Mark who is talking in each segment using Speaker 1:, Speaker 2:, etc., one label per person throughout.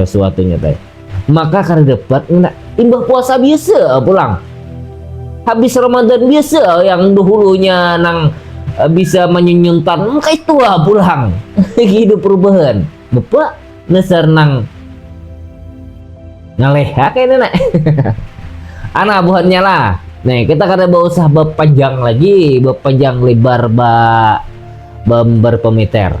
Speaker 1: sesuatunya teh maka kada dapat ngena imbah puasa biasa pulang habis Ramadan biasa yang dahulunya nang eh, bisa menyunyuntan maka itu lah pulang hidup perubahan bapa nasar nang ngaleha kayaknya nak anak buhannya lah Nah, kita kada bawa usah berpanjang lagi, berpanjang lebar ba, ba berpemeter.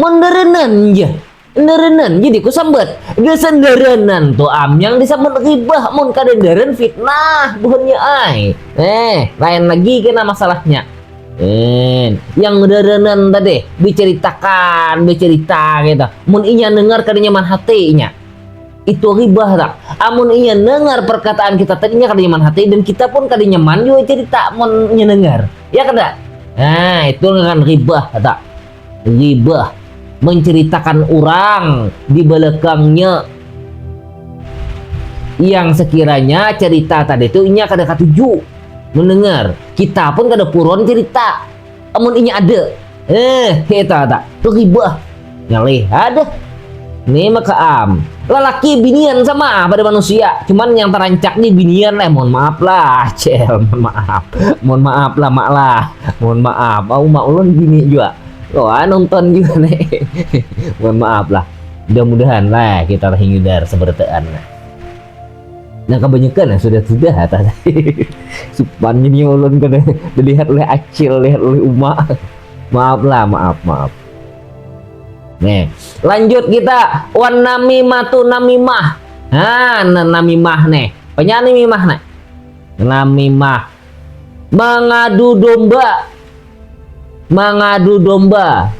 Speaker 1: Menderenan ja. Enderenan jadi ku sambat. Gesenderenan tu am yang disambat ribah mun kadenderen fitnah buhannya ai. Eh, lain lagi kena masalahnya. Eh, yang derenan tadi diceritakan, bercerita gitu. Mun inya dengar kada nyaman hati inya. Itu ribah tak? Amun inya nengar perkataan kita tadi inya kada nyaman hati dan kita pun kada nyaman jua cerita mun inya nengar. Ya kada? Nah, itu ngaran ribah tak? Ribah menceritakan orang di belakangnya yang sekiranya cerita tadi itu inya kada katuju mendengar. Kita pun kada puron cerita. Amun inya ada, eh kita tak teribah. Ngalih ada. Nih maka am, lelaki binian sama ah pada manusia, cuman yang terancak nih binian lah, mohon maaf lah, cel, mohon maaf, mohon maaf lah mak lah, mohon maaf, mau mak ulun bini juga, oh ah, nonton juga nih, mohon maaf lah, mudah-mudahan lah kita terhindar seberataan lah. Nah kebanyakan nah sudah sudah atas supan ini ulun kada dilihat oleh acil lihat oleh uma maaf lah maaf maaf nih lanjut kita wan nami matu nami mah nah nami mah nih penyanyi nami mah nih nami mah mengadu domba mengadu domba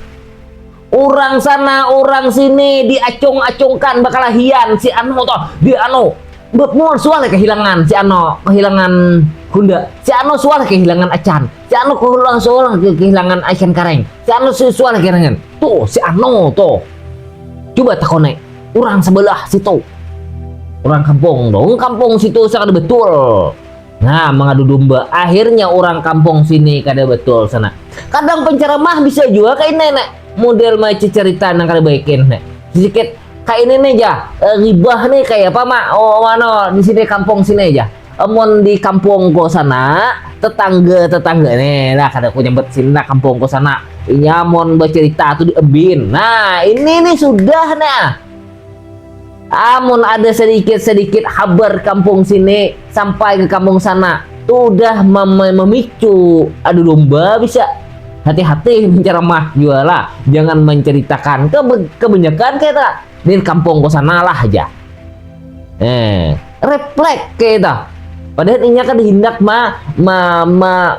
Speaker 1: urang sana urang sini diacung-acungkan bakalahian si anu toh di anu Bepmul sual kehilangan si ano kehilangan Hunda si ano sual kehilangan Acan si ano kehilangan sual kehilangan Acan Kareng si ano sual kehilangan tuh si ano tuh coba takone orang sebelah situ orang kampung dong kampung situ sangat betul Nah, mengadu domba. Akhirnya orang kampung sini kada betul sana. Kadang penceramah bisa juga kayak ini, nek. Model macam cerita nang kada baik ini, nek. Sedikit kayak ini nih aja. E, eh, ribah nih kayak apa, Mak? Oh, mana di sini kampung sini aja. Emon di kampung ko sana, tetangga tetangga nih nah kada aku nyebut sini nah kampung ko sana iya mon bercerita tuh di ebin nah ini nih sudah nah Amun ada sadikit-sadikit habar kampung sini sampai ke kampung sana, tudah mamicu adu domba bisa. Hati-hati mancaramah jua lah, jangan mancaritakan kabanyakan kayata di kampung ku sana lah haja. Eh, reflek kayata. Padahal inya kada hindak ma, ma, ma,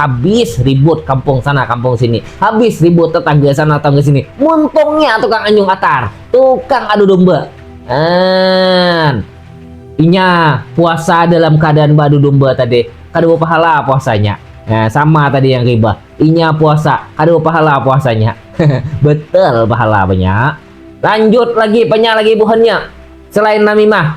Speaker 1: Habis ribut kampung sana kampung sini, habis ribut tetangga sana tetangga sini. Muntungnya tukang anyung atar, tukang adu domba. An. Inya puasa dalam keadaan badu domba tadi, kada pahala puasanya. Nah, sama tadi yang riba. Inya puasa, kada pahala puasanya. Betul pahala banyak. Lanjut lagi banyak lagi buhannya. Selain namimah,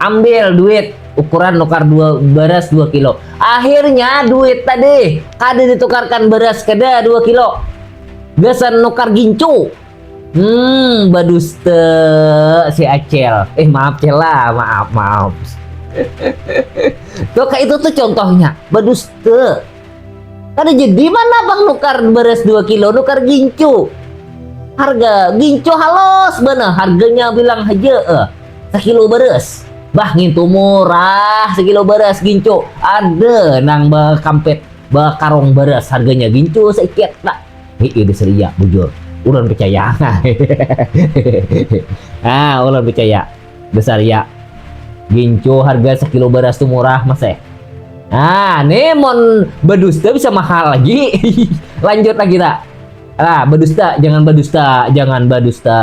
Speaker 1: Ambil duit ukuran nukar dua beras dua kilo. Akhirnya duit tadi kada ditukarkan beras keda dua kilo. Gasan nukar gincu. Hmm, baduste si Acel. Eh, maaf Cela, maaf, maaf. tuh kayak itu tuh contohnya, baduste. Kada jadi mana bang nukar beras dua kilo, nukar gincu. Harga gincu halus bener, harganya bilang aja. Eh. Sakilo beres. Bah ngintu murah sekilo beras gincu. Ada nang bakampet bakarong beras harganya gincu seiket tak. Hei udah seria bujur. Ulan percaya. ah, ulan percaya. Besar ya. Gincu harga sekilo beras tuh murah mas eh. Ah, nih mon bedusta bisa mahal lagi. Lanjut lagi tak. Ah, bedusta, jangan bedusta, jangan bedusta.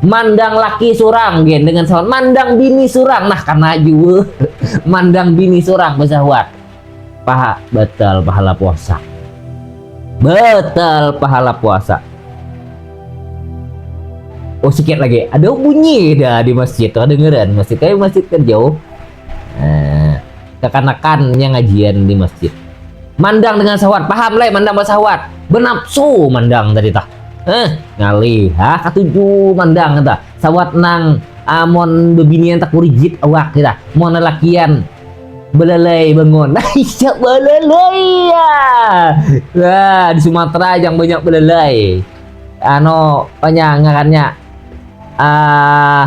Speaker 1: Mandang laki surang gen dengan sawan mandang bini surang nah karena jua mandang bini surang besahuan paha betul pahala puasa betul pahala puasa oh sikit lagi ada bunyi dah di masjid tuh dengeran masjid kayak masjid kan jauh eh, kekanakan yang ngajian di masjid mandang dengan sahwat paham leh mandang basahwat benapsu mandang tadi tak eh ngalih ha katuju mandang kita sawat nang amon bebinian tak kurigit awak kita mon lelakian belalai bangun siap belalai ya nah, di Sumatera yang banyak belalai ano banyak ngarannya ah uh,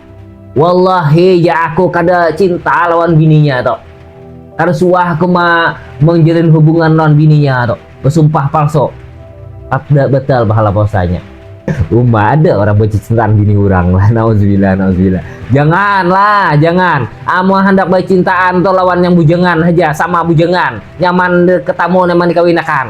Speaker 1: Wallahi ja aku kada cinta lawan bininya tu. Kada suah aku ma mangjalin hubungan lawan bininya tu, basumpah palsu. Kada batal pahala puasanya. Uma ada orang bacicintaan bini urang lah, nauzubillah nauzubillah. Jangan lah, jangan. Amun handak bacintaan tu lawan yang bujangan haja, sama bujangan. Nyaman ketamu nyaman dikawinakan.